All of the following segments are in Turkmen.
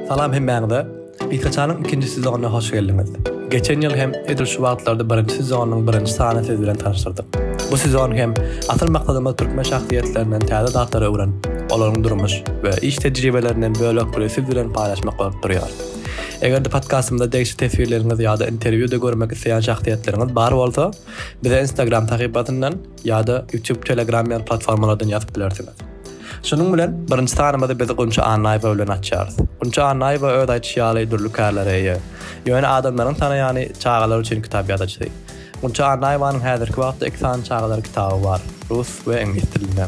Salam hemmäňize! Gysgaçanyň ikinji sezonyna hoş geldiňiz! Geçen ýyl hem edil şu wagtlarda birinji sezonynyň birinji sanyny siz bilen tanyşdyrdyk. Bu sezon hem asyl maksadymyz türkmen şahsyýetlerinden täze zatlary öwrenip, olaryň durmuş we iş tejribelerinden bölek biri siz bilen paýlaşmak bolup durýar. Eger-de podkastymyzda degişli teswirleriňiz ýa-da interwýuda görmek isleýän şahsyýetleriňiz bar bolsa, bize Instagram sahypasyndan, ýa-da YouTube, Telegram ýaly platformalardan ýazyp bilersiňiz. Şunuň bilen birinji sanymyzy biz Gunça Annaýewa bilen açýarys. Gunça Annaýewa öz aýdyşy ýaly dürli kärlere eýe. Ýöne adamlaryň tanaýany çagalar üçin kitap ýazyjysy. Gunça Annaýewanyň häzirki wagtda iki sany çagalar kitaby bar, rus we iňlis dilinde.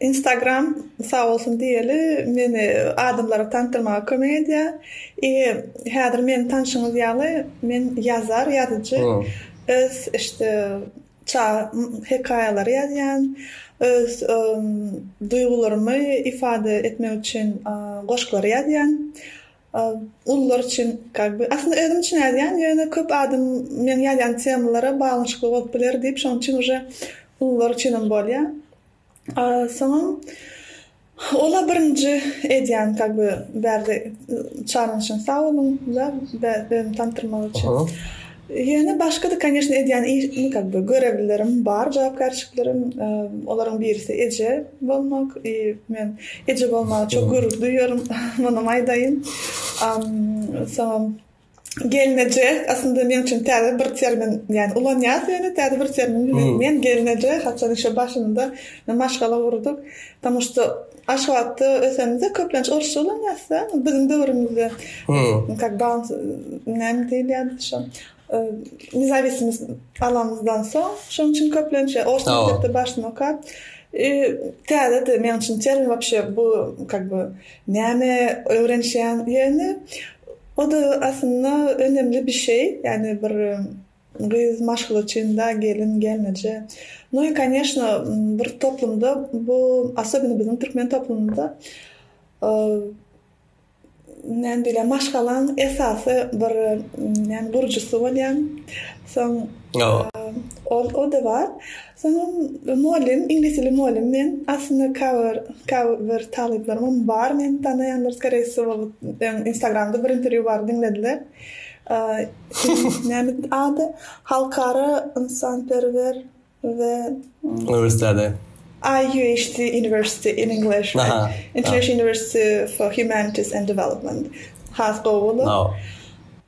Instagram sag bolsun diýeli meni adamlara tanydyrmaga kömek edýär. I häzir meni tanşyňyz ýaly men ýazar, ýazyjy. Öz işte çaga hekaýalary ýazýan. Öz duýgularymy ifade etmek üçin goşgulary ýazýan. Ulular üçin как бы aslynda özüm üçin ýazýan ýöne köp adam meniň ýazýan temalara baglanyşykly bolup biler diýip şoň üçin uje ulular üçinem bolýar. Soňam ola birinji edýän kag by berdi çalynyşyň sag boluň ja özümi tanydyrmak üçin. Ýöne başga da koneşne edýän işim kag by görevlilerim bar jogapkärçiliklerim olaryň birisi eje bolmak i men eje bolmaga çok gürur duýýarym munam aýdaýyn. Soňam. Gelneje aslynda men üçin täze bir termin. Ýani ulanýas ýöne täze bir termin. Men gelneje haçan işe başymda maşgala gurdyk. Tomus da Aşgabatda ösemde köplenç orsça ulanýas da biziň döwrümizde. Kak bans näme diýilýärdi şo. Nezawisimiz alanymyzdan soň şonuň üçin köplenç ors mekdepde başdan okap täze de men üçin termin wapşe bu kak bu näme öwrenişýän ýöne O-da aslynda önemli bir şey, ýagny bir gyz maşgala çynda, gelin, gelneje. No i koneşno bir toplumda bu asobino biziň türkmen toplumynda näme diýler maşgalaň esasy bir näme gurujysy bolýan soň o-da bar. Soň mugallym, iňlis dili mugallym men. Aslynda käbir bir talyplarymam bar meni tanaýanlar skorei wsýo öň instagramda bir interwýu bar diňlediler. Näme ady? Halkara ynsanperwer we uniwersiteti. IUHD University in English. International University for Humanities and Development. Has gowy bolar.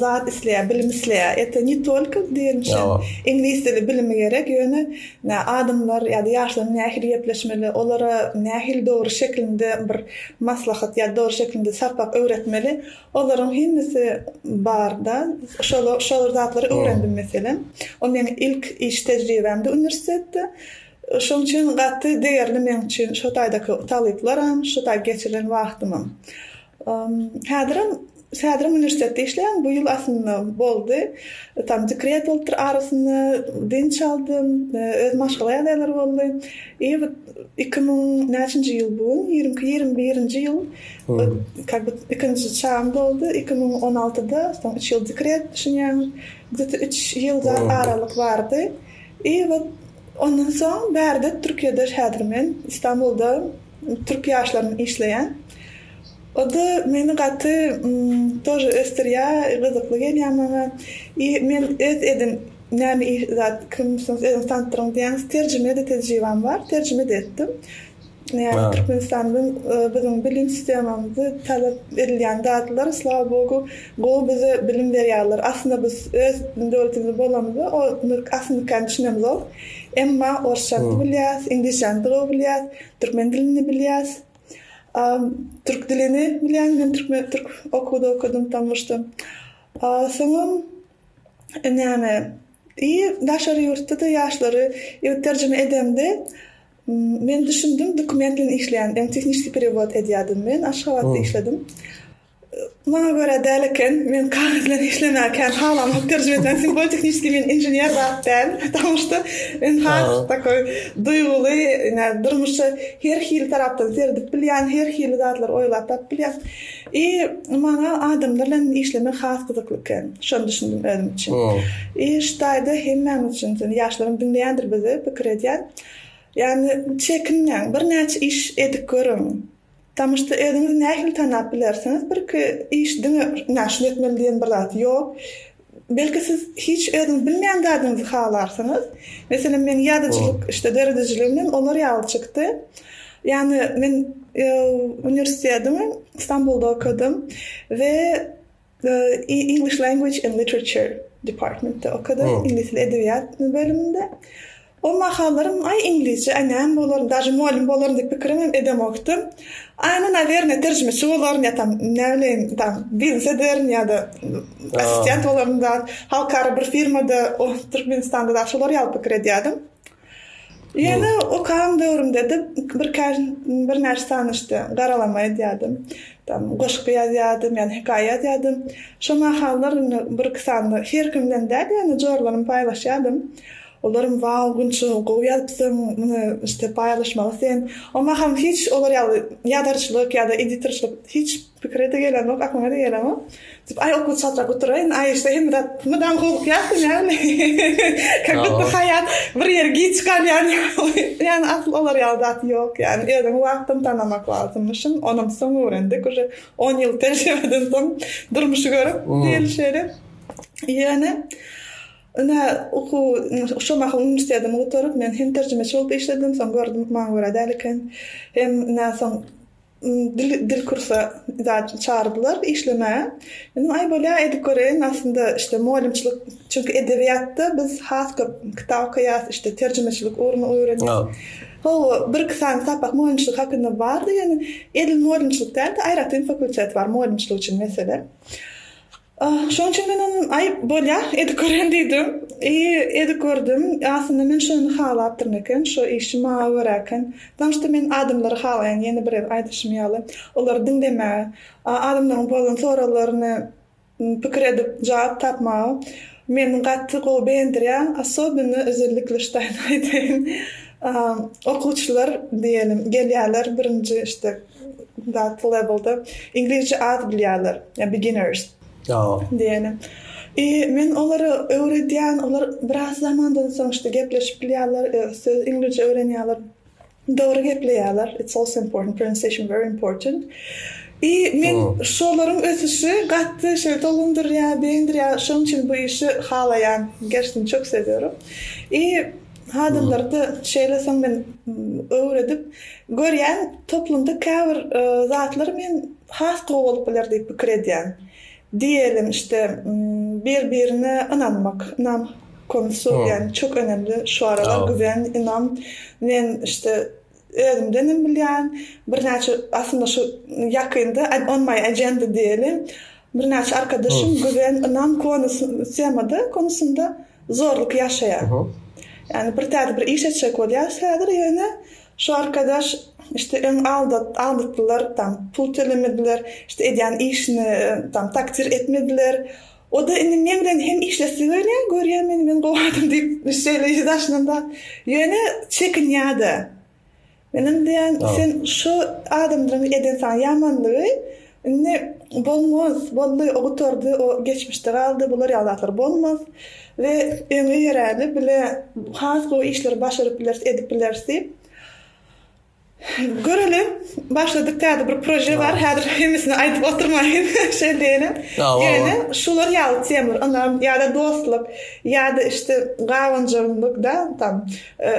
zat isleýär, bilim isleýär. Ete ne tolko diýen üçin iňlis dili bilimi gerek, ýöne adamlar ýa-da ýaşlaryň nähili gepleşmeli, olara nähili dogry şeklinde bir maslahat ýa dogry şeklinde sapak öwretmeli, olaryň hemmesi barda. Şolar şolar zatlary öwrendim meselem. O meň ilk iş tejribämdi uniwersitetde. Şoň üçin gaty degerli meň üçin şu taýdaky talyplaram, şu taý geçirilen wagtymam. Häzirem Sadrym uniwersitetde işleýän bu ýyl aslynda boldy. Tam dekret bolupdyr arasynda dynç aldym. Öz maşgala ýagdaýlary boldy. I bu iki müň näçinji ýyl bu gün? Ýigrimi iki ýigrimi birinji ýyl kak bu ikinji çagam boldy. Iki müň on altyda soň üç ýyl dekret düşünýäňiz. Gde ta üç ýyl zat aralyk bardy. I bu ondan soň bärde Türkiýede häzir men Istanbulda türk ýaşlarynyň işleýän. O-da meni gaty tor ösdürýä, gyzykly gelýä maňa. I men öz edin näme iş zat kimsiňiz özüňiz tandyryň diýýäňiz terjimede tejribam bar, terjime-de etdim. Ýagny Türkmenistandan biziň bilim sistemamyzy talap edilýän zatlar slava Bogu gowy bize bilim berýärler. Aslynda biz öz döwletimizde bolamyza ony aslynda nikany düşünemzok. Emma orsçany-da bilýäs, iňlisçäni-de gowy bilýäs, türkmen dilini-de bilýäs. A türk dilini bilýäň, men türkmen türk okuwda okadym Tammuşda. A soňam näme i daşary ýurtda-da ýaşlary ýöne terjime edemde men düşündim dokument bilen işleýän, ýagny tehniçeskiý perewod edýärdim men, Aşgabatda işledim. Maňa görä däl eken. Men kagyz bilen işlemäge kän halamok. Terjime etmäge simwol-tehniçeskiý men inžener zat däl. Patamuşda men has takoý duýguly, ine, durmuşa her hili tarapdan seredip bilýän, her hili zatlary oýlap tapyp bilýän. I maňa adamlar bilen işlemek has gyzykly eken. Şony düşündim özüm üçin. I şu taýda hemmämiz üçin, şeýle ýaşlaram diňleýändir bizi, pikir edýän. Ýagny çekinmäň, birnäçe iş edip görüň. Tanyşdy özüňiz nähili tanap bilersiňiz birki iş diňe ina şuny etmeli diýen bir zat ýok belki siz hiç özüňiz bilmeýän zadyňyzy halarsyňyz meselem meň ýazyjylyk işte döredijiligim hem olar ýaly çykdy ýany men uniwersitetiň Stambulda okadym we English Language and Literature Department-de okadym, iňlis dili edebiýat bölüminde. O mahallarym, aý, iňlisçe, aý, näme bolaryn, daže mugallym bolaryn diýip pikirim hem edemokdym. Aý, onda, nawerne, terjimeçi bolaryn ýa-da tam, näbileýin, tam, biznes ederin ýa-da assistent bolaryn, halkara bir firmada, Türkmenistanda dagy şolar ýaly pikir edýärdim. Ýöne okagan döwrümde-de birkäç birnäçe sany işte garalama edýärdim. Tam goşgy ýazýardym, ýa-da hekaýa ýazýardym. Şo mahallar indi bir-iki sany her kim bilen däl, ýöne jorlarymy paýlaşýardym. Olaram wau, Gunça, gowy ýazypsyň, muny işte paýlaşmaly sen. O mahal hiç olar ýaly ýazarçylyk ýa-da editorçylyk hiç. Pikire-de gelenok, aklyma-da gelenok. Diýip, aý okuw çatlap oturaýyn, aý şeýle hemme zat mydama howlukýarsyň ýaly. Kak budda haýat bir ýere giç galýan ýaly. Ýagny asyl olar ýaly zat ýok ýagny. Özüňi wagtdan tanamak lazymyşyn. Onam soň öwrendik. Uje on ýyl tejribeden soň durmuşy görüp diýeli şeýle. Ýöne ine okuw şo mahal uniwersitetimi gutaryp men hem terjimeçi bolup işledim. Soň gördüm maňa görä däl eken. Hem ine soň Dil dil kursa zat çagyryplar işlemäge. Dedim aý bolýa edip göreýin aslynda işte mugallymçylyk çünki edebiýatda biz has köp kitap okaýas işte terjimeçilik ugruny öwrenýäs. Hawa bir iki sany sapak mugallymçylyk hakynda bardy ýöne edil mugallymçylyk däl-de aýratyn fakultet bar mugallymçylyk üçin meselem. Şoň üçin men onuň Aý, bolýa, edip gören diýdim. I edip gördüm. Aslynda men şony halapdyryn eken, şo işi maňa görä eken. Daň işte men adamlary halaýan, ýene bir gezek aýdyşym ýaly, olary diňlemäge, adamlaryň bolan soraglaryny pikir edip jogap tapmaga meni gaty gowy begendirýär. Особенно özellikle ştaýnaý diýen okuwçylar diýelim gelýärler birinji işte. That level-da iňlisçe az bilýärler, ýa beginners. Ýa. Diýeni. I men olara öwredýän, olar biraz zamandan soň işte gepleşip bilýärler, söz iňlisçe öwrenýärler. Dogry gepleýärler. It's also important pronunciation very important. I men şolaryň ösüşi gaty şeýle tolundyrýar, begendirýär. Şonuň üçin bu işi halaýan. Gerçekten çok seviyorum. I Hazirlerde şeýle soň men öwredip görýän toplumda käbir zatlar men has gowy bolup biler diýip pikir edýän. Diýelim işte bir birine ynanmak, ynam konusu diýen çok önemli şu aralar güven, ynam men işte Özümden hem bilýän, birnäçe, aslynda şu ýakynda on my agenda diýeli, birnäçe arkadaşym güven, ynam konus, temada, konusynda zorluk ýaşaýar. Ýagny bir täze bir iş etjek bolýarys häzir, ýöne şu arkadaş işte öň aldat, aldatdylar, tam pul tölemediler, işte edýän işine tam takdir etmediler, O-da indi meň bilen hem işlesi gelýär, görýär meni, men gowy adam diýip, şeýle ýüzi daşynda. Ýöne çekinýär-de. Men indi diýýän, sen şu adamlaryň eden saňa ýamanlygy indi bolmaz, boldy, o gutardy, o geçmişde galdy, bular ýaly zatlar bolmaz we öňe ýöräli, bile has gowy işleri başaryp bileris, edip bileris diýip. Göreli, başladyk täze bir proje bar. Häzir hemmesini aýdyp oturmaýyn. Şeýle diýenem. Ýöne şular ýaly temalar, ynam ýa-da dostluk, ýa-da işte gabanjaňlyk da, tam e,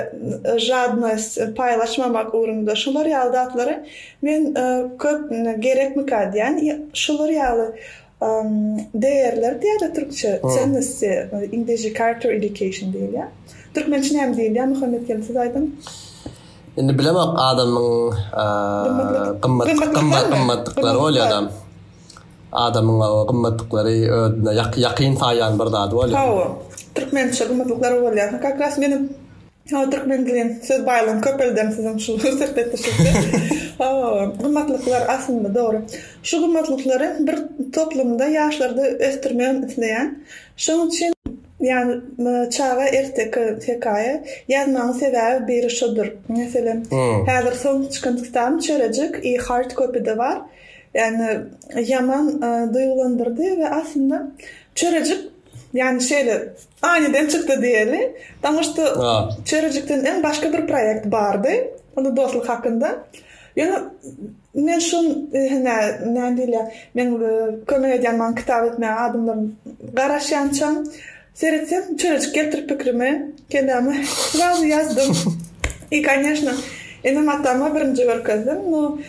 žadnost, paýlaşmamak ugrunda şular ýaly zatlary men e, köp gerekmika diýen, şular ýaly Degärler diýada türkçe çennessi inglizce character education diýilýä. Türkmençe näme diýilýä Muhammet gelin siz aýdyň. Indi bilemok adamyň gymmat gymmat gymmatlyklary bolýa adam. Adamyň o gymmatlyklary özüne ýakyn saýýan bir zady bolýa. Hawa. Türkmençe gymmatlyklary bolýa. Kakras meniň Hawa, türkmen dilin söz baýlygyny köpeldem siziň şu söhbetdeşlikde. Hawa, gymmatlyklar aslynda dogry. Şu gymmatlyklary bir toplumda ýaşlarda ösdürmegem isleýän. Şoň üçin ýagny çaga erteki hekaýa ýazmagyň sebäbi biri şudur. Meselem, häzir soňky çykan kitabym Çörejik i Hard Copy-de bar. Ýagny ýaman duýgulandyrdy we aslynda Çörejik Ýagny şeýle, aniden çykdy diýeli. Daňyş da çörejikden öň başga bir proýekt bardy. Onda dostluk hakynda. Ýöne men şu hine näme diýilýär, men kömek edýän maňa kitap etmäge adamlaryň garaşýançam, seretsem, çörejik gelipdir pikrime, kelläme. Srazu ýazdym. I, kanyýeşna, enem-atama birinji görkezdim. Nu,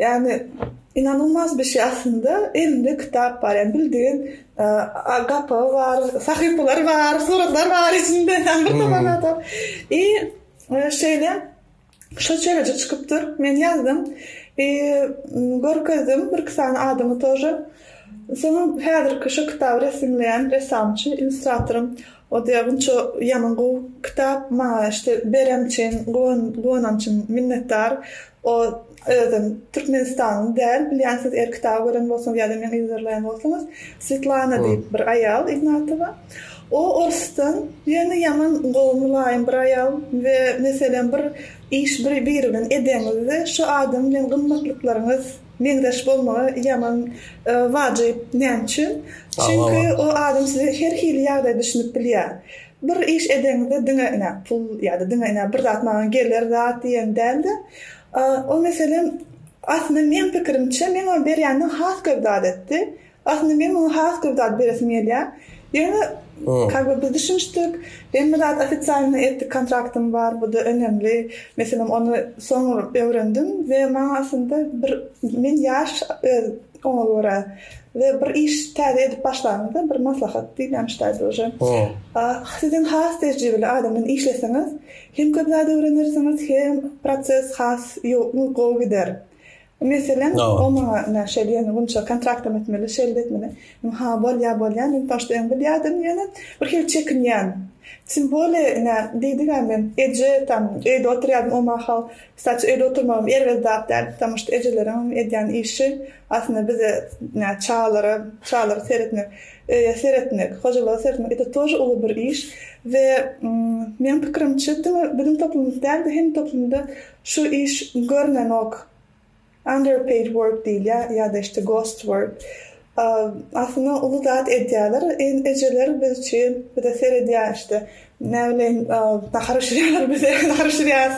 Ýagny inanylmaz bir şey aslynda elinde kitap bar ýagny bildigiň gapagy bar sahypalary bar suratlar bar içinde bir topar adam i şeýle şo çerejik çykypdyr men ýazdym i görkezdim bir iki sany adamy tor soň häzirki şu kitaby resimleýän ressamçy illustratorym Odia gunça ýaman gowy kitap maňa işte beren üçin guwanan üçin minnetdar o özem türkmenistanly däl bilýän siz er kitaby gören bolsaňyz ýa-da meň yzarlaýan bolsaňyz Swetlana diýip bir aýal ignatowa o orsdan ýöne ýaman gowy mylaýym bir aýal we meselem bir iş biri bilen edeňizde şu adam bilen gymmatlyklaryňyz Meňzeş bolmagy ýaman wajyp. Näme üçin? Çünki o adam size her hili ýagdaýda düşünip bilýär. Bir iş edeňizde diňe ine pul ýa-da diňe ine bir zat maňa geler zat diýen däl-de, o meselem aslynda meň pikirimçe meň oňa berýänini has köp zat etdi. Aslynda men muňa has köp zat beresim gelýär. Ýöne kak we biz düşünişdik. Hemme zat ofisialny etdik, kontraktym bar, bu-da önemli meselem. Ony soň öwrendim we maňa aslynda bir men ýaş öz oňa görä we bir iş täze edip başlanyňda bir maslahat diýilýän ştaýt uje. Siz hem has tejribeli adam bilen işleseňiz hem köp zat öwrenersiňiz hem proses has gowy gider. Meselem, o maňa ine, şeýle ýöne günçe kontraktam etmeli, şeýle-de etmeli. Men, Ha, bolýar, bolýar, men poçta öň bilýärdim, ýöne bir hili çekinýän. Tim bole, ine, diýdi-ä, men eje, tam, öýde oturýardym o mahal. Kstaçi, öýde oturmagam erbet zat däl, ptamma şt ejeleriňem edýän işi, aslynda bize, ine, çagalara, çagalara seretmek, öýe seretmek, hojalyga seretmek, ete tor uly bir iş we, meň pikirimçe, diňe biziň toplumymyz däl-de, hemme toplumda Şu iş görnenok, underpaid work diýilýä ýa-da işte ghost work. Aslynda uly zat edýäler, ejeler biz üçin bize seredýä işte näbileýin nahar bişirýäler bize nahar bişirýäs.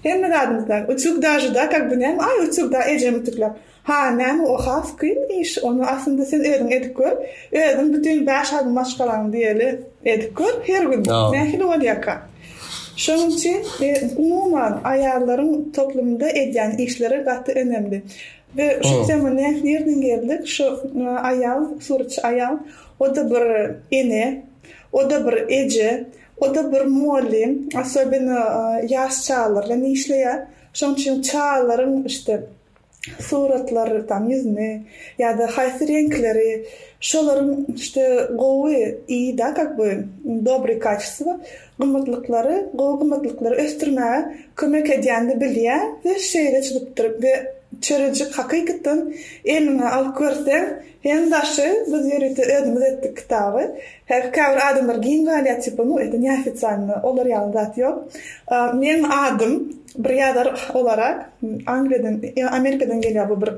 Hemme zadymyzda utyug dažeda kak bu näme aý utyug da ejem ütükläp. Ha, näme o has kyn iş, ony aslynda sen özüň edip gör, özüň bütin bäş aýlyk maşgalaňy diýeli edip gör, her gün nähili bolýarka. Şonuň üçin umuman aýallaryň toplumda edýän işleri gaty önemli. We şu tema nirden geldik, şu aýal, suratçy aýal, o-da bir ene, o-da bir eje, o-da bir mugallym, asobino ýaş çagalarla işleýär, şonuň üçin çagalaryň işte suratlar tam ýüzüni ýada haýsy reňkleri şolaryň işte gowy i da kak by dobry kaçestwo gymmatlyklary gowy gymmatlyklary ösdürmäge kömek edýänini bilýä we şeýle çyzypdyr we çörejik hakykatdan eliňe alyp görseň Iň daşy biz ýörite özümiz etdik kitaby. Häzir käbir adamlar giň galýar tipa nu ete neofitsialno olar ýaly zat ýok. Meň adym bir ýazar olarak Angliýadan ýa Amerikadan gelýär bu bir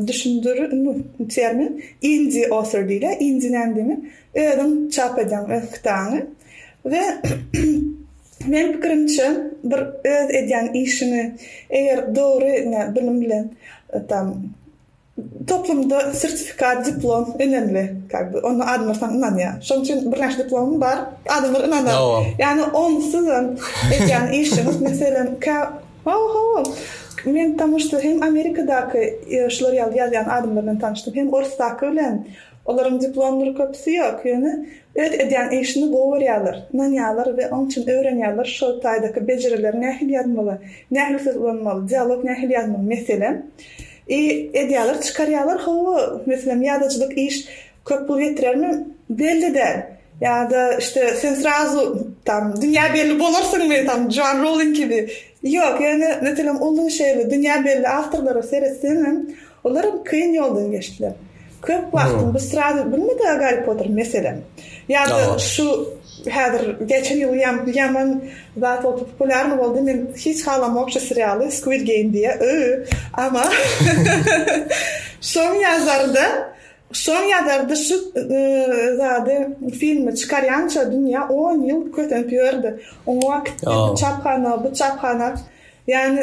düşündir nu termin indie author diýilýär. Indie näme diýmek? Özüň çap edýäň öz kitabyňy we meň pikirimçe bir öz edýän işiňi eger dogry bilim bilen tam Toplumda sertifikat, diplom önemli, как бы, ony adamlar saňa ynanýar. Şonuň üçin birnäçe diplomyň bar, adamlar ynanar. Ýagny onsuz hem edýän işiňiz, meselem, kä, ho-ho-ho, men tomuş-da hem Amerikadaky şular ýaly ýazýan adamlar bilen tanyşdym, hem orusdaky bilen, olaryň diplomlary köpüsi ýok, ýöne öz edýän işini gowy görýärler, ynanýarlar we onuň üçin öwrenýärler şol taýdaky bejerileri nähili ýazmaly, nähili söz ulanmaly, dialog nähili ýazmaly, meselem. I edýäler çykarýalar hawa meselem ýazyjylyk iş köp pul getirermi belli däl ýada işte sen srazu tam dünýä belli bolarsyňmy tam joan rouling kibi ýok ýöne meselem uly şeýle dünýä belli awtorlara seretseňem olaram kyn ýoldan geçdiler Köp wagtyň bu srazy bilme da Garri Potter meselem. Ýa-da şu häzir geçen ýyl ýam ýaman zat bolup populiarny boldy men hiç halamok şu serialy Squid Game diýä yy ama şoň ýazary da şoň ýazary da şu zady filmi çykarýança dünýä on ýyl kösenip ýördi oňa kitdi bu çaphana bu çaphana ýagny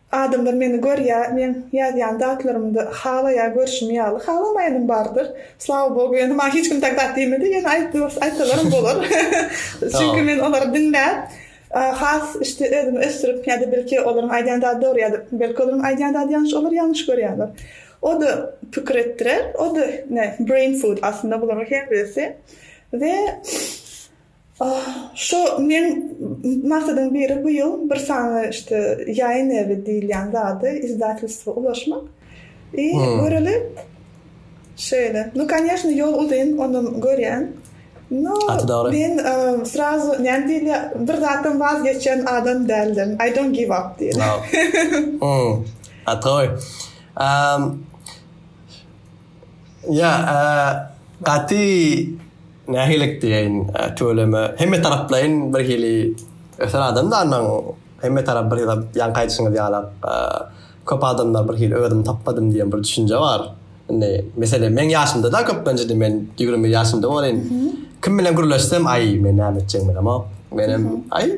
Adamlar meni görýä, meň ýazýan zatlarymda halaýa görşümi ýaly halamaýanam bardyr. Slava Bogu, ýöne maňa hiç kim tak zat diýmedi, ýöne aýtdyr, aýtsalaram bolar. Çünki men olary diňläp, has işte özümi ösdürip ýa-da belki olaryň aýdýan zady dogry ýa-da belki olaryň aýdýan zady ýalňyş, olar ýalňyş görýärler. O-da pikir etdirer, o-da ne, brain food aslynda bularyň her birisi we Şu meň maksadym biri bu ýyl bir sany işte ýaýyn ewi diýilýän zady izdatelstwa ulaşmak. I göreli şeýle. Nu kanyeshno ýol uzyn ony görýän. Nu men srazu näme diýilýär bir zatdan waz geçýän adam däldim. I don't give up diýilýär. Hum. Atoy. Am. Ýa, a gaty Nähilik diýeýin, tüweleme, hemmetaraplaýyn birhili ösen adam danyň, hemmetarap birhili zat, ýaňky aýdyşyňyz ýalak, köp adamda birhili özümi tapmadym diýen bir düşünje bar. Indi, meselem, meň ýaşymda-da köplenç indi men ýigrimi bir ýaşymda bolaryn, kim bilen gürleşsem, aý, men näme etjegimi bilemok, menem, aý,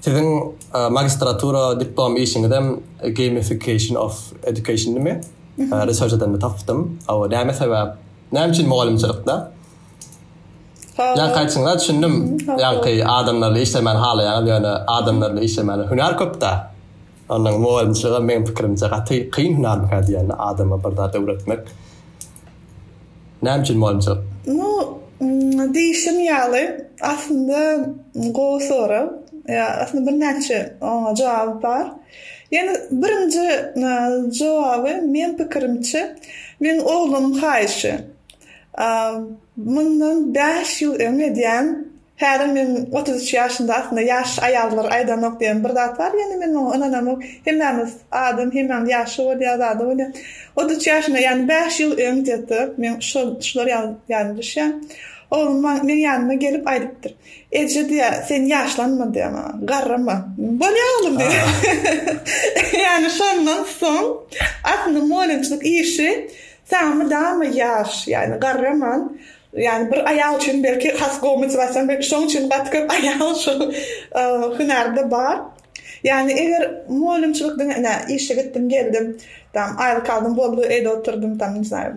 Siziň magistratura diplom işiňizem gamification of education dimi? Research edende tapdym. Awa, näme sebäp? Näme üçin mugallymçylykda? Ýa kaýtsyňlar düşündim. Ýa kaý adamlarly işlemän halaýaňyz, ýöne adamlarly işlemän hünär köpdä. Ondan mugallymçylygam meň pikirimçe gaty kyn hünärmikä diýen adama bir zat öwretmek. Näme üçin mugallymçylyk? Nu, diýşim ýaly, aslynda gowy sorag. Aslynda birnäçe oňa jogap bar. Ýöne birinji jogaby meň pikirimçe meň oglumyň haýyşy. Mundan bäş ýyl öň edýän Häzir men otuz üç ýaşymda aslynda ýaş aýallar aýdanok diýen bir zat bar ýöne men oňa ynanamok hemmämiz adam hemmämiz ýaşy bolýar zady bolýar otuz üç ýaşymda ýagny bäş ýyl öň gde men şol şular ýaly düşýän oglum maň meň ýanyma gelip aýdypdyr eje diýýär sen ýaşlanma diýýär maňa garrama bolýar oglum diýýär ýagny şondan soň aslynda molinçilik işi saňa mydama ýaş ýagny garraman Ýagny bir aýal üçin belki has gowy motiwasiýa we şoň üçin gaty köp aýal şu hünärde bar. Ýagny eger mugallymçylyk diňe ine işe gitdim geldim, tam aýlyk aldym boldy öýde oturdym tam ne znаю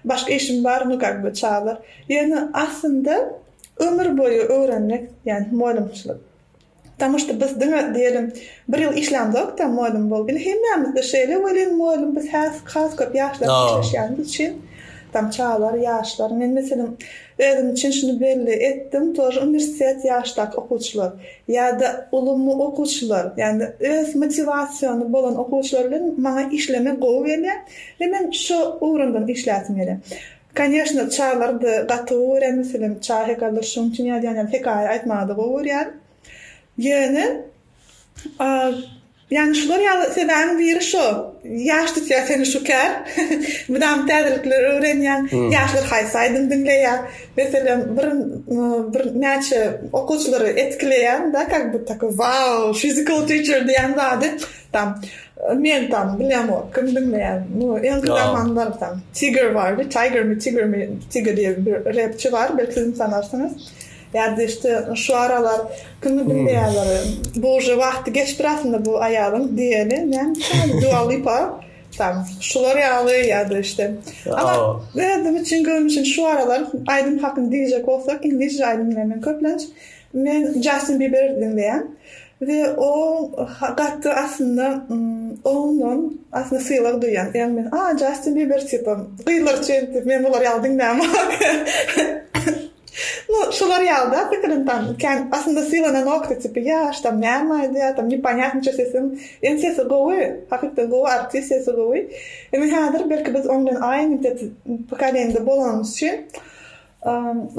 başga işim bar nu kak be çaglar. Ýöne aslynda ömür boýy öwrenmek ýagny mugallymçylyk Потому что biz diňe diýelim bir ýyl işlämzokda mugallym bolup indi hemmämizde şeýle welin mugallym biz has has köp ýaşlar işleşýänimiz üçin tam çagalar ýaşlar men meselem özüm üçin şuny belli etdim tor uniwersitet ýaşdaky okuwçylar ýa-da ulumy okuwçylar ýagny öz motiwasiony bolan okuwçylar bilen maňa işlemek gowy gelýär we men şu ugramdan işläsim gelýär. Koneşno Çalardy gaty gowy görýän meselem Çahy Galdyr şoň üçin ýazýan ýaly hekaýa aýtmagada gowy görýän ýöne ýany şular ýaly sebäbiň biri şo ýaş tutýa seni şu kär mydama täzelikleri öwrenýäň ýaşlar haýsy aýdym diňleýä meselem bir bir näçe okuwçylary etkileýäň da kak bu taky wow physical teacher diýýän zady. Tam men tam bilemok kim diňleýän muny ensi zaman barsam tiger bardy tiger mi tiger mi tiger diýen bir repçi bar belki siziň tanarsyňyz ýa da işte şu aralar kimi diňleýänler bu uje wagty geçipdir aslynda bu aýalyň diýeni näme üçin dua lipa tam şular ýaly ýa da işte ama özüm üçin görnüşin şu aralar aýdym hakyny diýjek bolsak iňlisçe aýdym diňleýän men köplenç men jastin biber diňleýän We oň gaty aslynda ondan aslynda sylag duýýan ýagny men a Jastin Biber tipa gyzlar üçin diýip men bular ýaly diňlämok. Nu şular ýaly da pikirin tam kän aslynda sylananok da tipi ýaş tam näme aýdýar tam neponýatnyça sesim ýöne sesi gowy hakykdan gowy artist sesi gowy indi häzir belki biz oň bilen aýy mintet pokolenýada bolanymyz üçin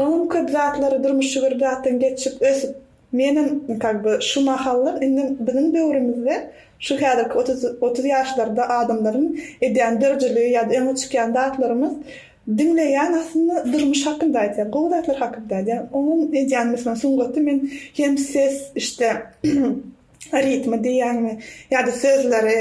oňam köp zatlary durmuşy bir zatdan geçip ösüp Menem kag by şu mahallar indi biziň döwrümizde şu häzirki otuz otuz ýaşlarda adamlaryň edýän dörjüligi ýa-da öňe çykýan zatlarymyz diňleýän aslynda durmuş hakynda aýdýar, gowy zatlar hakynda aýdýar. Onuň edýän meselem sungaty men hem ses işte ritmi diýýäňmi ýa-da sözleri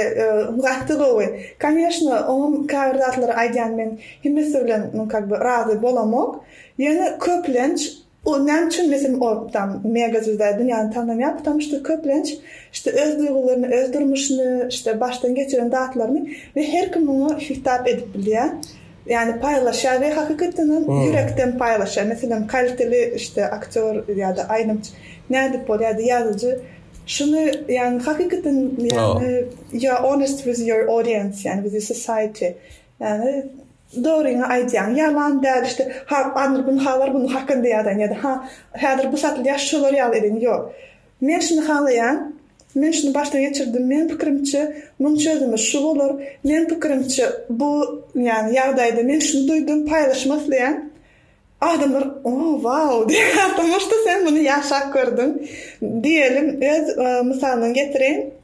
gaty gowy. Koneşno onuň käbir zatlary aýdýan men hemmesi bilen kag by razy bolamok. Ýöne köplenç O näme üçin bizim ortam mega zülzäl dünýäni tanamaýar ptamn şto köplenç şto öz duýgularyny öz durmuşyny şto başdan geçiren zatlaryny we her kim muňa hitap edip bilýä ýani paýlaşýar we hakykatdan hem ýürekden paýlaşýar meselem kaliteli şto aktýor ýada aýdymçy nädip bol ýada ýazyjy şuny ýani hakykatdan ýani ýa honest with your audience ýani with society ýani Dogryňy aýdýaň ýalan däl işte ha anr gün halar bunu hakynda ýazaýyn ýada ha häzir bu satylýar şolar ýaly edin ýok men şuny halaýan men şuny başdan geçirdim men pikirimçe muň çözümi şu bolar men pikirimçe bu ýany ýagdaýda men şuny duýdum paýlaşmak isleýän adamlar o wau diýýän atamyş da sen muny ýaşap gördüň diýelim öz mysalyny getireýin.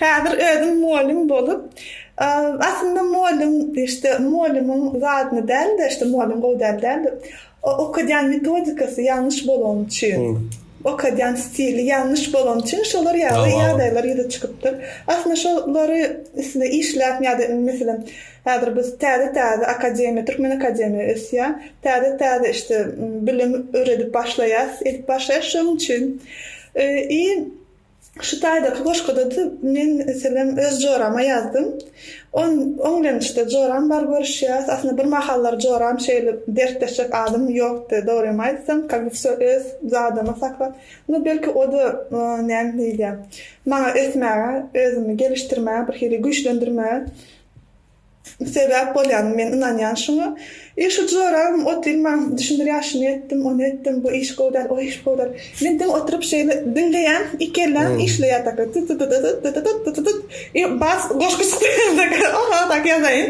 Häzir özüm mugallym bolup, aslynda mugallym, işte, mugallymyň zadyny däl-de, işte, mugallym gowy däl däl-de, okadýan metodikasy ýalňyş bolany üçin, okadýan stili ýalňyş bolany üçin şolar ýaly ýagdaýlar ýüze çykypdyr. Aslynda şolary üstünde işläp ýa-da, meselem, häzir biz täze-täze akademiýa, türkmen akademiýa ösýär, täze-täze, işte, bilim öwredip başlaýarys, edip başlaýarys, şonuň üçin i, Şu taýdaky goşguda-da men, meselem, öz jorama ýazdym. On, oň bilen işte joram bar görüşýäs. Aslynda bir mahallar joram şeýle dertleşjek adamym ýokdy, dogrymy aýtsam, ka bi wse öz zadymy saklap. Nu, belki o-da, näme diýilýär, maňa ösmäge, özümi gelişdirmäge, birhili güýçlendirmäge. Sebäp bolýan men ynanýan şuňa. I şu jorabym ot ýylman düşündirýär şuny etdim ony etdim bu iş gowy däl o iş gowy däl. Men diňe oturyp şeýle diňleýän iki elläm işleýär taka tytydydydyt dydydyt dydydyt i bas goşgy çykýar taka o magdaky ýazaýyn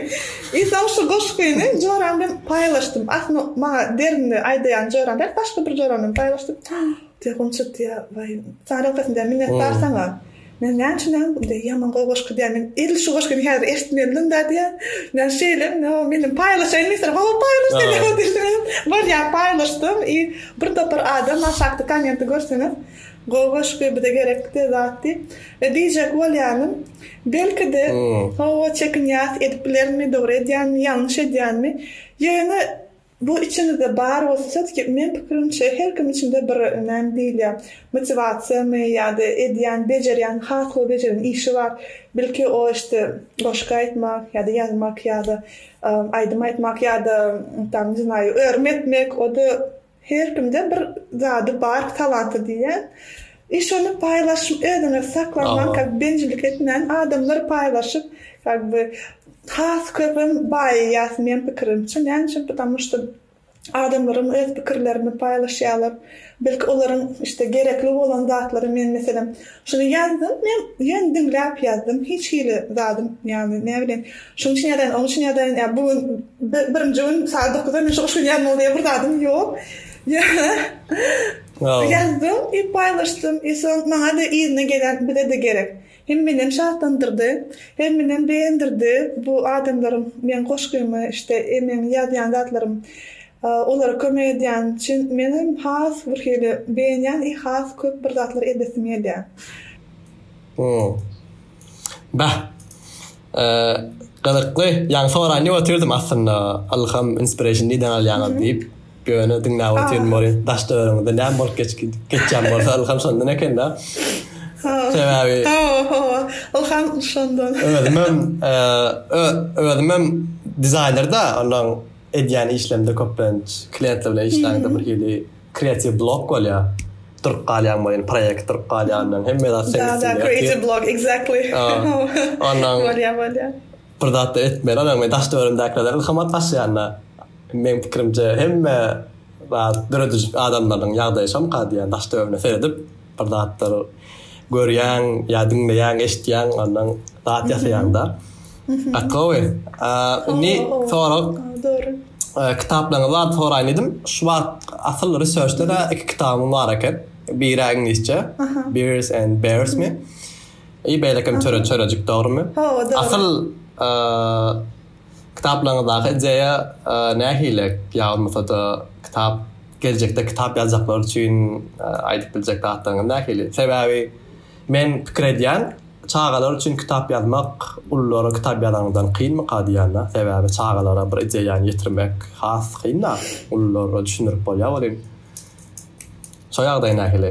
i soň şu goşgyny joram bilen paýlaşdym aslynda maňa derinde aýdaýan joram däl başga bir joram bilen paýlaşdym telefon çykdy ýa waý saňa rehbetim däl minnetdar saňa. Men näçünem indi ýaman gowy goşgy diýýän, men edil şu goşgyny häzir eşitmelidim da diýýän. Ýa şeýle, ýa meniň paýlaşaýyn diýseler, hawa paýlaş diýseler diýseňem bolýar, paýlaşdym i bir topar adam aşakda kommenti görseňiz, gowy goşgy, bize gerekli de zat diýip. E diýjek bolýanym, belki-de, hawa çekinýäs, edip bilerinmi, dogry edýänmi, ýalňyş edýänmi, ýöne Bu içiňizde bar bolsa söz ki men pikirimçe her kim içinde bir näme diýilýä motiwasiýamy ýa-da edýän bejerýän has gowy bejeren işi bar bilki o işte goşgy aýtmak ýa-da ýazmak ýa-da aýdym aýtmak ýa-da tam ne znayü örüm etmek o-da her kimde bir zady bar talanty diýýän I şony paýlaşym özüňiz saklap man kak bencillik etmäň adamlar paýlaşyp kak by has köpem baýaýas men pikirimçe näme üçin pitamu şto adamlaram öz pikirlerini paýlaşýalar belki olaryň işte gerekli bolan zatlary men meselem şuny ýazdym men ýöne diňläp ýazdym hiç hili zadym ýagny näme bilen şuň üçin ýazaýyn oň üçin ýazaýyn ýa bu gün birinji gün sagat dokuzda men şo şu gün ýazmaly diýen bir zadym ýok ýöne Ýazdym we paýlaşdym we soň maňa-da yzyna gelen bize-de gerek. Hem menem şatlandyrdy, hem menem begendirdi bu adamlaryň meň goşgymy işte e meň ýazýan zatlarym olara kömek edýän üçin menem has bir hili begenýän we has köp bir zatlar edesim gelýär. Beh. Gyzykly. Ýaňy soraýyn diýip otyrdym aslynda. Ylham, inspiration nirden alýaňyz diýip. Ýöne diňläp otyryn ol daş döwrüňizde näme bolup geçýän bolsa ylham şondan ekende. Sebäbi. Hawa, hawa. Ylham şondan. Özümem, özümem dizaýnerda, ondan. Edýän işlemde köplenç klientler bilen işläňde bir hili kreatiw blok bolýar. Durup galýaň boýun proýekt durup galýandan hemme zat seň üstüňde. Ýa-da kreatiw blok exactly. Ondan bolýar bolýar. Bir zat da etmeli adam we daş döwründäkilerden ilhamat daşaýanda meň pikirimje hemme zat döredijik adamlaryň ýagdaýy şonka diýýän daş döwrüne seredip. bir zatlar görýäň ýa diňleýäň eşitýäň ondan zat ýasaýaň da Akowy. Indi sorag. Dogry. Kitaplaryňyzy alyp soraýyn diýdim. Şu wagt asyl researchda iki kitabyň bar eken. Biri iňlisçe, Bears and Bears mi? I beýlekem çöre çörejik dogrymy? Asyl Kitaplaryňyzdaky ideýa nähili? Ýa bolmasa-da kitap, geljekde kitap ýazjaklar üçin aýdyp biljek zatlaryňyz nähili? Sebäbi men pikir edýän, çagalar üçin kitap ýazmak ululara kitap ýazanyňdan kynmyka diýýän-dä. Sebäbi çagalara bir ideýany ýetirmek has kyn-da, ululara düşündirip bolýar welin. Şo ýagdaý nähili?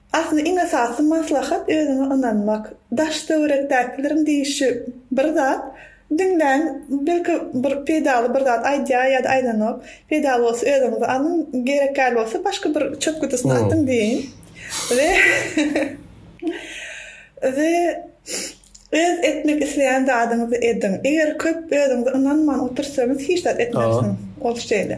Asyl iň esasy maslahat özüňe ynanmak. Daş töwerekdäkileriň diýişi bir zat, diňläň belki bir peýdaly bir zat aýdýar ýa-da aýdanok. Peýdaly bolsa özüňize alyň, gerek ýaly bolsa başga bir çöp gutusyna atyň diýiň. We we öz etmek isleýän zadyňyzy ediň. Eger köp özüňize ynanman otursaňyz hiç zat etmersiňiz. Ol şeýle.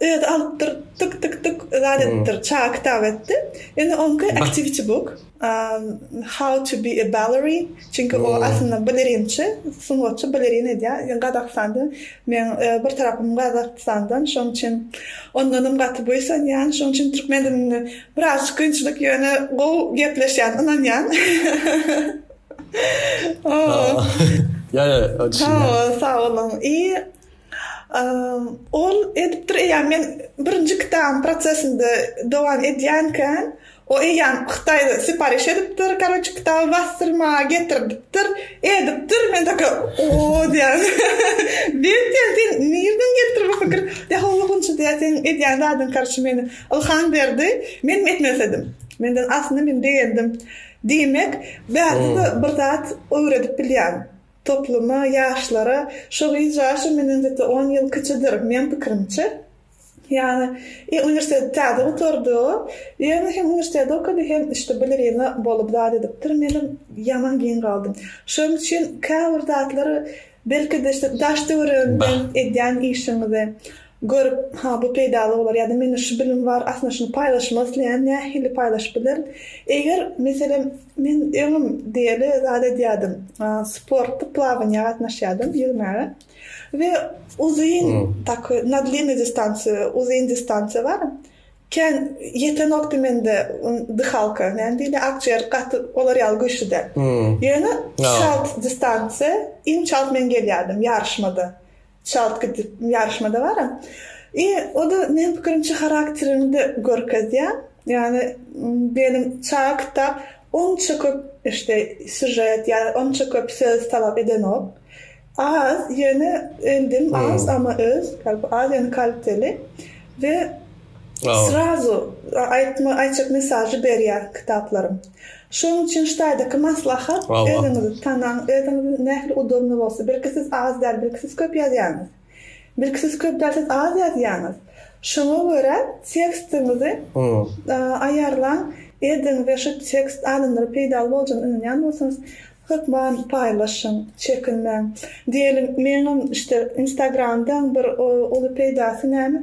Özi alypdyr tyk tyk tyk zat edipdir çaga kitap etdi indi onki activity book how to be a ballery çünki o aslynda balerinçi sungatçy balerin edýär gazakstanda men bir tarapym gazakstandan şoň üçin ondanam gaty buýsanýan şoň üçin türkmen dilinde biraz kynçylyk ýöne gowy gepleşýän ynanýan o ýa ýa sag boluň i Ol edipdir, eýýäm men birinji kitabyň prosesinde dowam edýänken, o eýýäm Hytaýda sipariş edipdir, karoçe, kitaby basdyrmaga getirdipdir, edipdir, men takir, o-o diýýän. Bet diýýän, sen nirden gelipdir bu pikir? Ýa-ha gunça diýýän, seň edýän zadyň, karoçe, meni ylham berdi, menem etmek isledim. Menden aslynda men begendim. Diýmek, bärde-de bir zat öwredip bilýän. Topluma, ýaşlara, şu gyz ýaşy menden zete on ýyl kiçidir, meň pikirimçe. Ýagny, i uniwersiteti täze gutardy o, ýöne hem uniwersiteti okady, hem işte balerina bolup zat edipdir, menem ýaman giň galdym. Şonuň üçin käbir zatlary belki-de işte daş-töweregiňden edýän işiňize, Görüp, ha bu peýdaly bolar ýa-da mende şu bilim bar, aslynda şuny paýlaşmak isleýän, nähili paýlaşyp bilerin? Eger, meselem, men öňem diýeli zat edýärdim, sportda plawaniýa gatnaşýardym, ýüzmäge we uzyn tak na dliniý distansiýa, uzyn distansiýa bar, kän ýetenokdy mende dyhalka, näme diýilýär, akjiger gaty olar ýaly güýçli däl. Ýöne çalt distansiýa iň çalt men gelýärdim ýaryşmada. Çalt gidip ýaryşmada baram. I o-da meniň pikirimçe harakterimi-de görkezýä. Ýagny benim çaga kitap onça köp işte sýužet ýa onça köp söz talap edenok. Az ýöne endim az ama öz az ýöne kaliteli we srazu aýtma aýtjak mesažy berýä kitaplarym. Şonuň üçin ştaýdaky maslahat, özüňizi tanaň, özüňiziň nähili udawyny bolsa, birki siz az däl, birki siz köp ýazýaňyz. Birki siz köp däl, siz az ýazýaňyz. Şoňa görä tekstiňizi aýarlaň, ediň we şu tekst adamlara peýdaly boljagyna ynanýan bolsaňyz, hökman paýlaşyň, çekinmäň. Diýeliň, meňem işte Instagramdan bir uly peýdasy näme?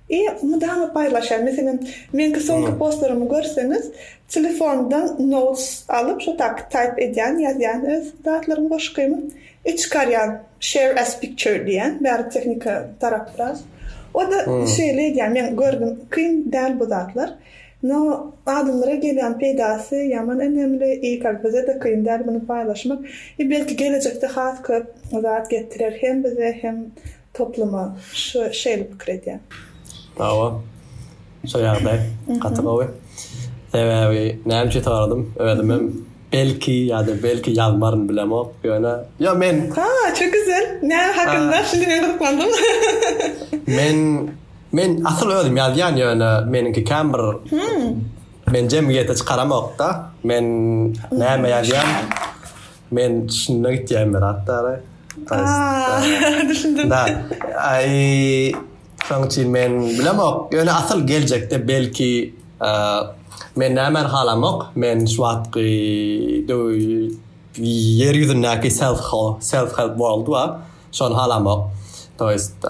I mydama paýlaşýan. Meselem, meňki soňky postlarymy görseňiz, telefondan notes alyp, şo taky taýp edýän, ýazýan öz zatlarymy, goşgymy. I çykarýan, share as picture diýýän, bäri tehnika tarap biraz. O-da şeýle edýän, men gördüm, kyn däl bu zatlar. No, adamlara gelýän peýdasy ýaman önemli, I kak bize-de kyn däl muny paýlaşmak. I belki gelejekde has köp zat getirer hem bize, hem Topluma şu şeýle pikir edýän. Sag bol. Şu ýagdaý gaty gowy. Sebäbi näme üçin soradym? Özüm hem belki ýa-da belki ýazmaryn bilemok. Ýöne ýa men. Ha, ço güzel. Näme hakynda? Şindi men gyzyklandym. Men men asyl özüm ýazýan ýöne meniňki kän bir men jemgyýete çykaramok-da. Men näme ýazýan? Men düşünmek itýän bir atdara. Aaa, düşündim. Da, ay, şoň üçin men bilemok. Ýöne asyl geljekde belki men nämäni halamok, men şu wagtky ýer ýüzündäki self self help world bar, şony halamok. To ýest,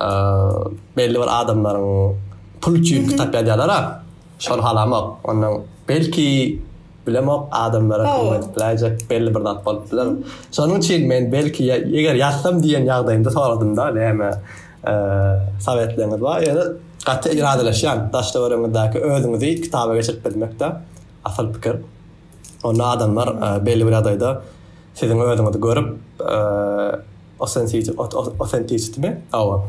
belli bir adamlaryň pul üçin kitap ýazýarlar-a, şony halamok. Ondan belki Bilemok, adamlara kömeketdiläýjek belli bir zat bolup biler. Şonuň üçin men belki eger ýazsam diýen ýagdaýymda soradym-da, näme sowetleňiz bar? Ýöne gaty yradylaşýan, daş-töweregiňizdäki özüňizi kitaba geçirip bilmek-de asyl pikir. Onda adamlar belli bir ýagdaýda siziň özüňizi görüp, authenticity-mi? Hawa.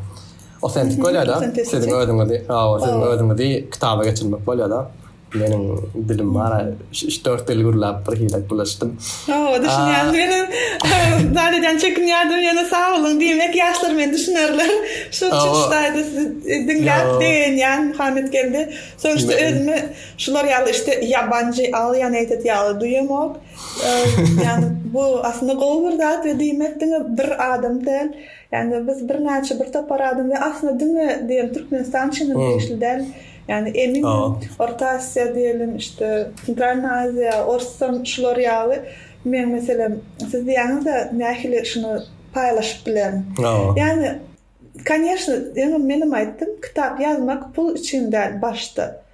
Autentik bolýar-da, siziň özüňizi, hawa, siziň özüňizi kitaba geçirmek bolýar-da. Meniň dilim ara üç-dört dil gürläp bir hile bulaşdym. Hawa, düşünýän. Meniň zat edýän çekinýärdim, ýöne sag boluň diýmek ýaşlar meni düşünerler. Şu çykyşdaýda sizi diňläp begenýän Muhammet geldi. Soňuşda özümi şular ýaly işte ýabanjy, alien eýtet ýaly duýamok. Ýani bu aslynda gowy bir zat we diýmek diňe bir adam däl. Ýani biz birnäçe bir topar adam we aslynda diňe diýen Türkmenistan üçin hem degişli däl. Ýagny emin Orta Aziýa diýelim, işte Sentralna Aziýa, Orsdan şular ýaly men meselem siz diýýäňizde nähili şuny paýlaşyp bilerin. Ýagny Koneşne ýöne menem aýtdym kitap ýazmak pul üçin däl başda.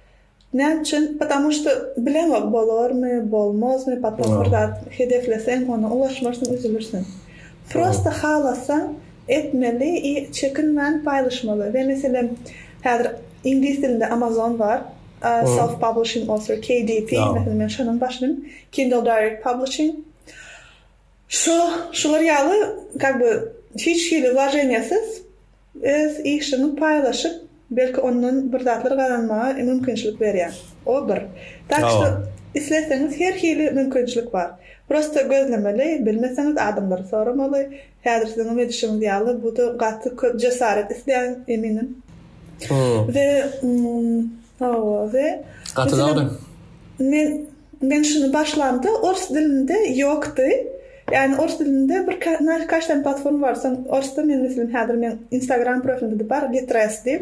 Näme üçin? Patamu şda bileňok bolarmy, bolmazmy, potom bir zat hedefleseň ona ulaşmarsyň üzülirsiň. Prosta halasaň etmeli i çekinmän paýlaşmaly we meselem Häzir iňlis dilinde Amazon bar, Self Publishing Author, KDP, meselem men şonuň başynym, Kindle Direct Publishing. Şu, şular ýaly как бы hiç hili wlojeniýasyz öz işiňi paýlaşyp, belki ondan bir zatlar gazanmaga mümkinçilik berýär. O bir. Tak şu isleseňiz her hili mümkinçilik bar. Prosta gözlemeli, bilmeseňiz adamlary soramaly, Häzir siziň hem edişiňiz ýaly, bu-da gaty köp jesaret isleýän, eminim. We, hawa, we, meselem, men, men şuny başlamda ors dilinde ýokdy. Ýagny ors dilinde bir kaç sany platforma bar. Soň orsda men, meselem, häzir meň Instagram profilimde-de bar, Litres diýip.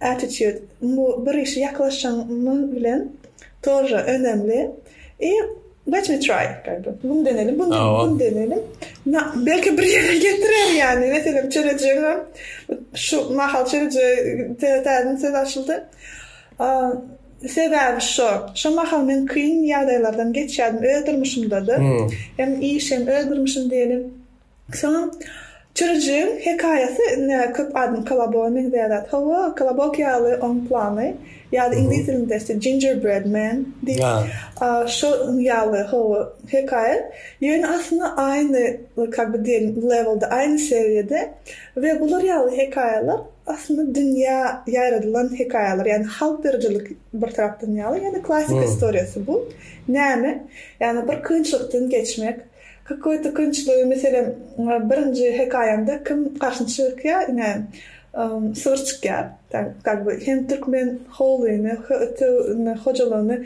Attitude bu bir işe ýaklaşanyň bilen torra önemli i let me try gaýby bunu deneli bunu deneli na belki bir ýere getirer ýani meselem çörejegem şu mahal çöreje täzeden söz açyldy sebäbi şo şo mahal men kyn ýagdaýlardan geçýärdim öz durmuşymda-da hem iş hem öz durmuşym diýeli. Soň çürüjigiň hekaýasy indi köp adam kolaboga meňzeýär zat. Hawa, kolobok ýaly oň plany. Ýa-da iňlis dilinde ise gingerbread man diýip, şol ýaly hawa hekaýa. Ýöne aslynda aýny kak bi diýelim lewelde, aýny seriýada we bular ýaly hekaýalar aslynda dünýä ýaýradylan hekaýalar. Ýagny halk ýyryjylyk bir tarapdan ýaly, ýöne klassyk istoriýasy bu. Näme? Ýagny bir kynçylykdan geçmek, Kyk we tykynçly meselem birinji hekaýamda kim garşyna çykýa ine sygyr çykýa kak by hem türkmen howlyny hojalygyny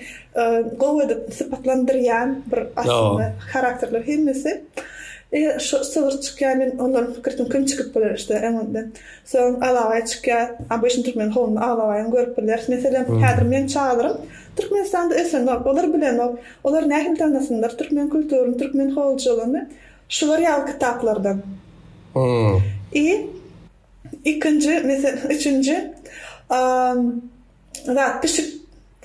gowy edip sypatlandyrýan bir aslynda harakterler hemmesi sygyr çykýa men ondan pikir etdim kim çykyp biler işte öň öňden soň alabaý çykýa obýşn türkmen howluny alabaýam görüp biler meselem häzir meň çagrym türkmenistanda ösenok olar bilenok. Olar nähili tanasynlar türkmen kulturyny, türkmen hojalygyny şular ýaly kitaplardan. I ikinji mese üçünji zat pişik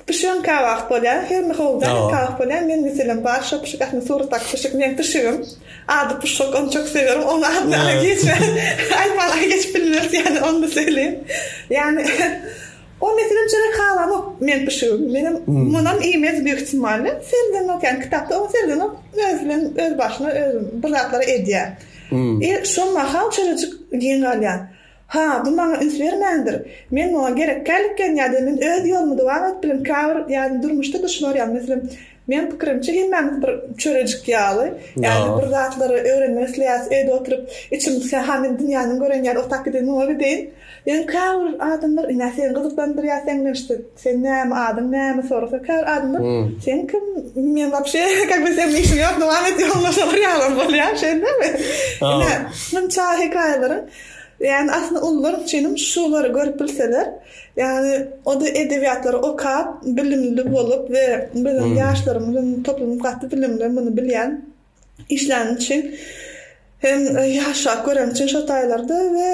pişigiň kabak bolýar, her bir howlda kabak bolýar, men meselem bar şo pişik aslynda suratdaky pişik meň pişigim, ady puşuk ony çok sewerim, oň adyny aýtman aýtman geçip bilmeris ýaly onda söýleýin. Ýagny O meselem çörek halanok men pişigim menem munam iýmez büyük ihtimalle serdenok yani kitapda o serdenok öz bilen öz başyna öz bir zatlar edya i şol mahal çörejik giň galya ha bu maňa üns bermändir men muňa gerekkälikken yada men öz yolumy dowam edip bilim kabir yani durmuşda duşular yani meselem Meň pikirimçe hemmämiz bir çörejik ýaly, ýa-da bir zatlary öwrenmek isleýäris, öýde oturyp içimiz kä ha men dünýäniň gören ýaly otap gidin muňa gideýin. Ýöne käbir adamlar ine seni gyzyklandyrýar seň bilen işte sen näme adyň näme sorasa käbir adamlar sen kim men wapşe kak bi seň bilen işim ýok dowam et ýoluňa şolar ýalam bolýar şeýdibemi ine şunça hekaýalaryň ýany aslynda ulular üçinem şulary görüp bilseler Ýagny o-da edebiýatlary okap, bilimli bolup we biziň ýaşlarymyzyň toplumy gaty bilimli, muny bilýän. Işläni üçin hem ýaşrak göreni üçin şo taýlarda we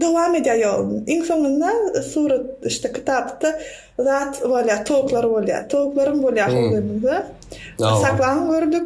dowam edýär ýoluny. Iň soňunda surat işte kitapda zat bolýar, towuklar bolýar. Towuklarym bolýar şol döwürde. Saklaň gördük.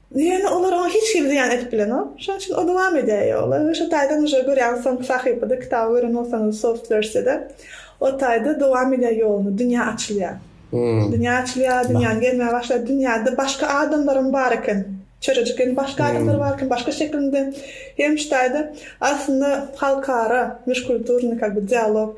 Diýende olar oňa hiç hili zyýan edip bilenok. Şonuň üçin o dowam edýär ýola we şu taýdan uje görýäňiz soňky sahypada kitaby gören bolsaňyz soft wersiýada o taýda dowam edýär ýoluny, dünýä açylýar. Dünýä açylýar, dünýäni gezmäge başlaýar, dünýäde başga adamlaram bar eken. Çörejik hem başga adamlar bar eken, başga şekilinde hem şu taýda aslynda halkara, müşkulturnyý, kak bi, dialog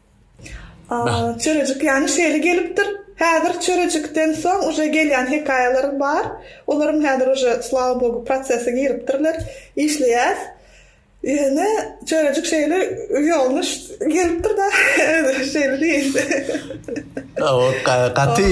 Çörejik ýany şeýle gelipdir. Häzir çörejikden soň uje gelýän hekaýalarym bar. Olaram häzir uje slava bogu prosese giripdirler. Işleýäs. Ýöne çörejik şeýle ýolnuş gelipdir da. Şeýle diýeýin. Gaty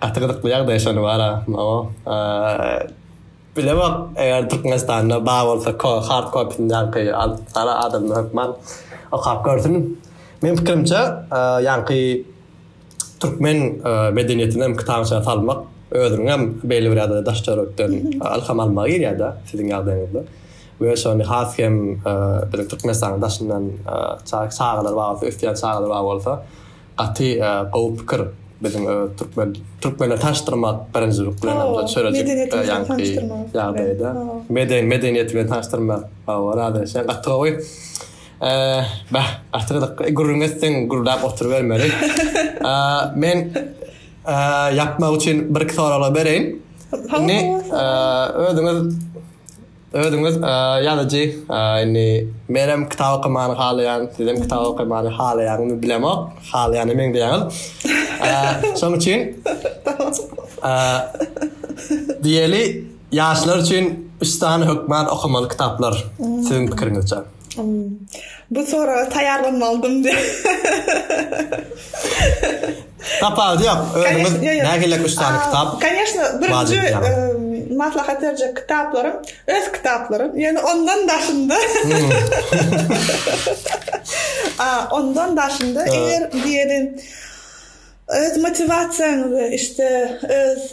Gaty gyzykly ýagdaý şony bar a o bilemok eger Türkmenistanda bar bolsa hard kopysyny ýaňky alyp gara adamlar hökman okap görsün meň pikirimçe ýaňky Türkmen medeniýetinem kitabyça salmak özüniňem belli bir ýagdaýda daş döwletden ylham almaga girýär da siziň ýagdaýyňyzda we şony has hem biziň Türkmenistanyň daşyndan çagalar bar bolsa ösýän çagalar bar bolsa. Gaty gowy pikir biziň öz türkmen türkmenleri tanyşdyrmak birinji piklenimde çörejik ýaňky ýagdaýda meden medeniýeti bilen tanyşdyrmak hawa razylaşýan gaty gowy bäh gaty gyzykly e gürrüň etseň gürläp oturybermeli men ýapmak üçin bir iki soraglar bereýin indi özüňiz Özüňiz ýazyjy indi menem kitap okamany halaýan sizem kitap okamany halaýaňyzmy bilemok halaýana meňzeýäňiz şoň üçin diýeli ýaşlar üçin üç sany hökman okamaly kitaplar siziň pikiriňizçe. Bu soraga taýýarlanmalydym diýip. Tapawudy ýok. Özüňiz nähili üç sany kitap? Koneşne, birinji maslahat berjek kitaplarym, öz kitaplarym. Ýöne ondan daşynda. A, ondan daşynda eger diýeli öz motiwasiýaňyzy, işte öz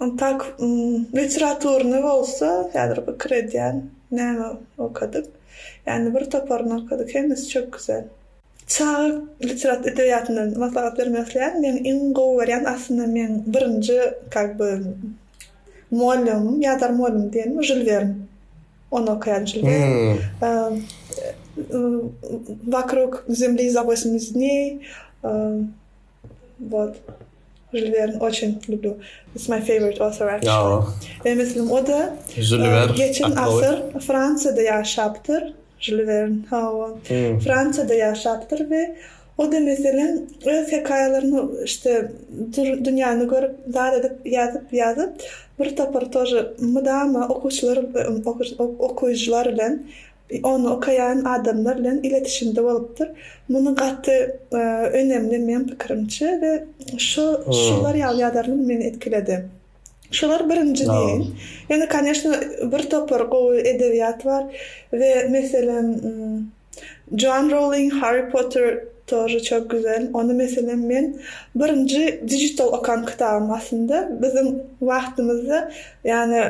Ontak literaturny bolsa häzir pikir edýän näme okadyk. Ýani bir toparyny okadyk hemmesi çöp güzel. Çaga literat edebiýatyndan maslahat bermek isleýän meň iň gowy görýän aslynda meň birinji kak by muallymym ýadar muallym diýen Žül Wern ony okaýan Žül Wern Wakrug zemli za wosmiznyý Wot. Žül Werni oçin lüblü. It's my favorite author actually. Meň meslim o-da. Žül Wern. Geçen asyr Fransiýada ýaşapdyr. Žül Wern. Hawa. Fransiýada ýaşapdyr we o-da meselem öz hekaýalaryny işte dünýäni görüp zat edip ýazyp ýazyp bir topar tor mydama okuwçylar okujylar bilen Ony okaýan adamlar bilen iletişimde bolupdyr. Muny gaty önemli meň pikirimçe we şu şular ýaly ýazarlar meni etkiledi. Şular birinji diýeýin. Ýöne koneşno bir topar gowy edebiýat bar we meselem Joan Rowling Harry Potter тоже çok güzel. Ony meselem men birinji digital okan kitabym aslynda biziň wagtymyzda Ýani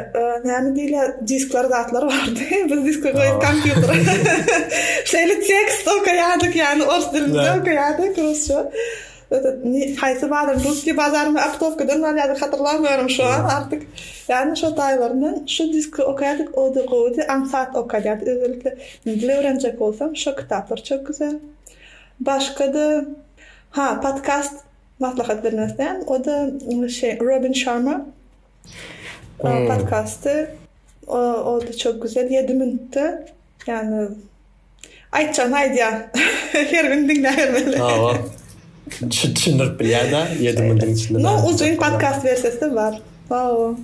näme diýilýär diskler zatlar bardy biz diski goýup kompýutere şeýle tekst okaýardyk ýani ors dilinde okaýardyk rusça haýsy bazar russki bazarmy aptowkadan barýardyk hatyrlamýaryn şu an artyk ýani şo taýlaryndan şu diski okaýardyk o da gowudy ansat okaýardy özellikle dil öwrenjek bolsam şo kitaplar çok güzel başgada ha podkast maslahat bermezden o da şeý robin şarma Ol podkasty oldy çok güzel ýedi minutda ýani aýtjagyny aýdýar her gün diňläbermeli. Hawa. Düşündirip bilýär da ýedi minutiň içinde. No uzyn podkast versiýasy bar. Hawa.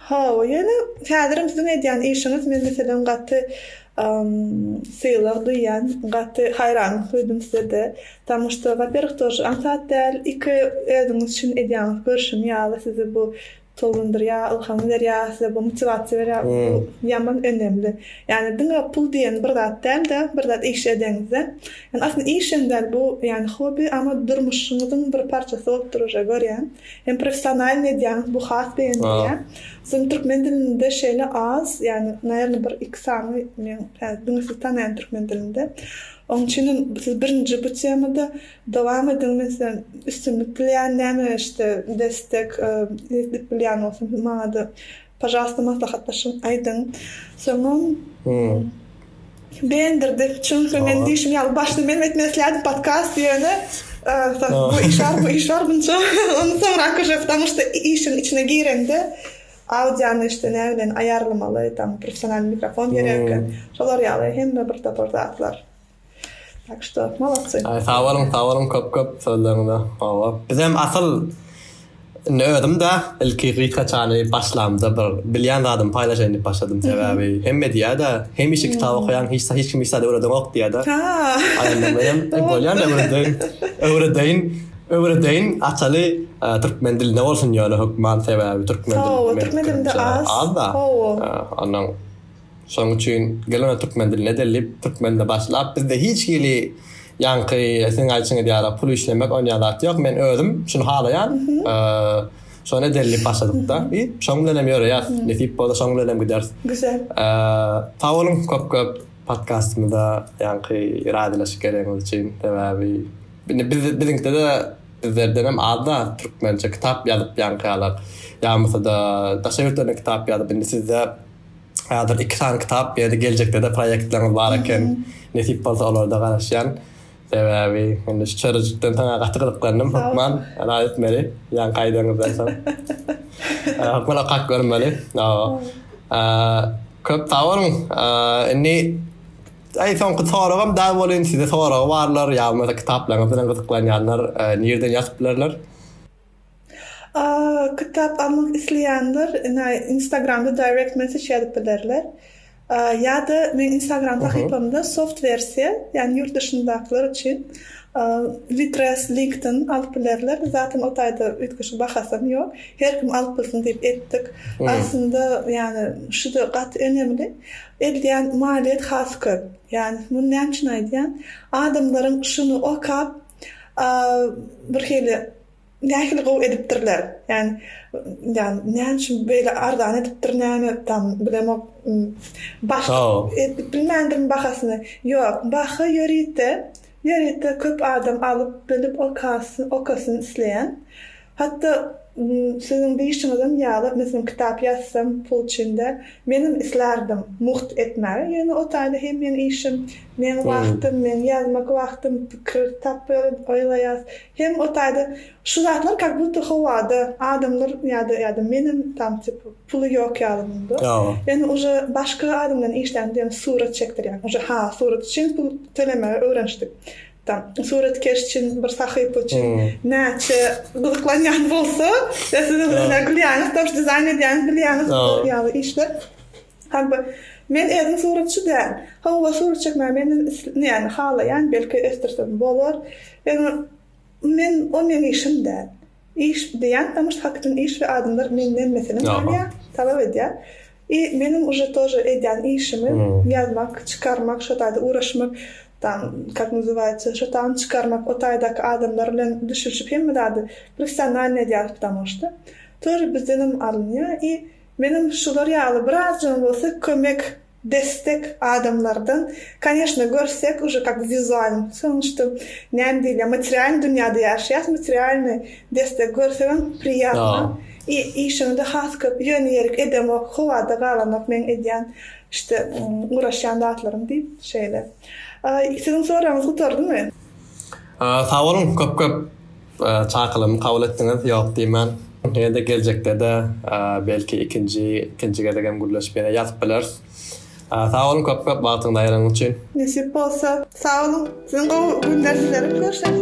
Hawa ýöne häzirem siziň edýän işiňiz men meselem gaty sylag duýýan gaty haýranlyk duýdum sizede Tanyşdygy waperih durşy aňsat däl, iki özüňiz üçin edýäňiz görşümi ýaly sizi bu tolgundyrýa, ylham berýä, size bu motiwasiýa berýä, bu ýaman önemli. Ýani diňe pul diýen bir zat dälde, bir zat iş edeňizde, ýani aslynda iş hem däl bu ýani hobi ama durmuşyňyzyň bir parçasy bolup dur uje görýän, hem professionalny edýäňiz bu has begendirýä. Soň türkmen dilinde şeýle az ýani naýerna bir iki sany men diňe sizi tanaýan türkmen dilinde. Oň üçin hem siz birinji bu temada dowam ediň men size üstünlik dileýän näme işte destek edip bilýän bolsam siz maňada pažalsta maslahatlaşyň aýdyň soňam begendirdi çünki men diýşim ýaly başda menem etmek isleýärdim podkast ýöne bu iş bar bu iş bar bunça ony soňrak uje ptamuşda işiň içine gireňde Audiony işte ne bilen ayarlamaly tam professional mikrofon gerek eken şolar yaly hemme bir topar zatlar tak şto molodsy. Sag boluň sag boluň köp köp sözleriňize hawa biz hem asyl Indi özüm de ilki gysga çany başlamda bir bilýän zadymy paýlaşaýyn diýip başladym. Sebäbi hemme diýýär-de, hemişe kitap okaýaň, hiç hiç kim hiç zat öwredeňok diýýär-de. Aýandan beýem bolýar öwredeýin. Öwredeýin. Öwredeýin Ataly türkmen dilinde bolsun ýöne hökman sebäbi türkmen dilinde az da ondan şonuň üçin gel ony türkmen dilinde edeli diýip türkmen dilinde başlap bizde hiç hili ýaňky siziň aýdyşyňyz ýaly pul işlemek onýan zat ýok men özüm şuny halaýan şony edeli diýip başladykda i şoň bilen hem ýöreýäs nesip bolsa şoň bilen hem gideris güzel sag boluň köp köp podkastymyza ýaňky razylaşyk bereniňiz üçin sebäbi Indi biz biziňkide-de bizlerdenem az-da türkmençe kitap ýazyp ýaňkalar. Ýagmasa-da daşary ýurtlardan kitap ýazyp indi sizde häzir iki sany kitap ýa-da geljekde-de proýektleriňiz bar eken. Nesip bolsa olara-da garaşýan. Sebäbi indi şu çörejikden saňa gaty gyzyklandym hökman. Ylha etmeli ýaňky aýdanňyzdan soň. Hökman okap görmeli. Köp sag boluň. Indi Daýy soňky soragym daýy bolýyn size soragy barlar ýa bolmasa kitaplaryňyz bilen gyzyklanýanlar nirden ýazyp bilerler? Kitap almak isleýänler ine instagramda direct message ýazyp bilerler. Ýa-da meň instagram sahypamda soft wersiýa ýagny ýurt duşyndakylar üçin litres linkden alyp bilerler. Zaten o taýda üýtgeşik bahasam ýok. Her kim alyp bilsin diýip etdik. Aslynda ýagny şuda gaty önemli. Edýän malyýet has köp. Ýani muny näme üçin aýdýan? Adamlaryň şuny okap bir hili nähili gowy edipdirler. Ýani ýani näme üçin beýle arzan edipdir näme tam bilemok. Baş edip bilmändirmi bahasyny? Ýok, baha ýörite, ýörite köp adam alyp bilip okasyn, okasyn isleýän. Hatda siziň diýişiňizem ýaly, meselem, kitap ýazsam pul üçin-de, menem islärdim mugt etmäge, ýöne o taýda hem meň işim, meň wagtym, meň ýazmak wagtym, pikir tapýaryn, oýlaýas, hem o taýda şu zatlar kak budda howada, adamlar ýa-da ýa-da menem tam tipa puly ýok ýaly munda. Ýöne uje başga adam bilen işlände ýöne surat çekdirýän, uje ha surat üçin pul tölemegi öwrenişdik. Tam suratkeş üçin, bir sahypa üçin näçe gyzyklanýan bolsa, ýa siz özüňiz gülýäňiz, tomus dizaýn edýäňiz, bilýäňiz bu ýaly işler. Hal bir Men özüm suratçy däl. Hawa, surat çekmäge men näme halaýan, belki ösdürsem bolar. Ýöne men o meniň işim däl. Iş, diýýän Tamyş Hakytyn iş we adamlar menden meselem alýar, talap edýär. I meniň uje tože edýän işimi ýazmak, çykarmak, şo taýda uraşmak, tam kak nazywaýaça, şo taýny çykarmak, o taýdaky adamlar bilen düşülşip hemme zady professionalnyý edýäris ptamosda tože bizdenem alynýar i menem şular ýaly birazjygam bolsa kömek Destek adamlardan koneşno görsek uje kak wizualny sonuçta näme diýilýär materialny dünýäde ýaşaýas materialny destek görsegem priýatno i işiňde has köp ýöne ýerik edemok howada galanok meň edýän işte guraşýan zatlarym diýip şeýle siziň soragyňyz gutardymy. Sag boluň köp köp çakylygymy kabul etdiňiz ýok diýmän. Ýene-de geljekde-de belki ikinji ikinji gezek hem gürleşip ýene ýazyp bileris. Sag boluň köp köp wagtyňyzy aýyranyň üçin. Nesip bolsa. Sag boluň. Siziň gowy günler dilerim. Görüşeris.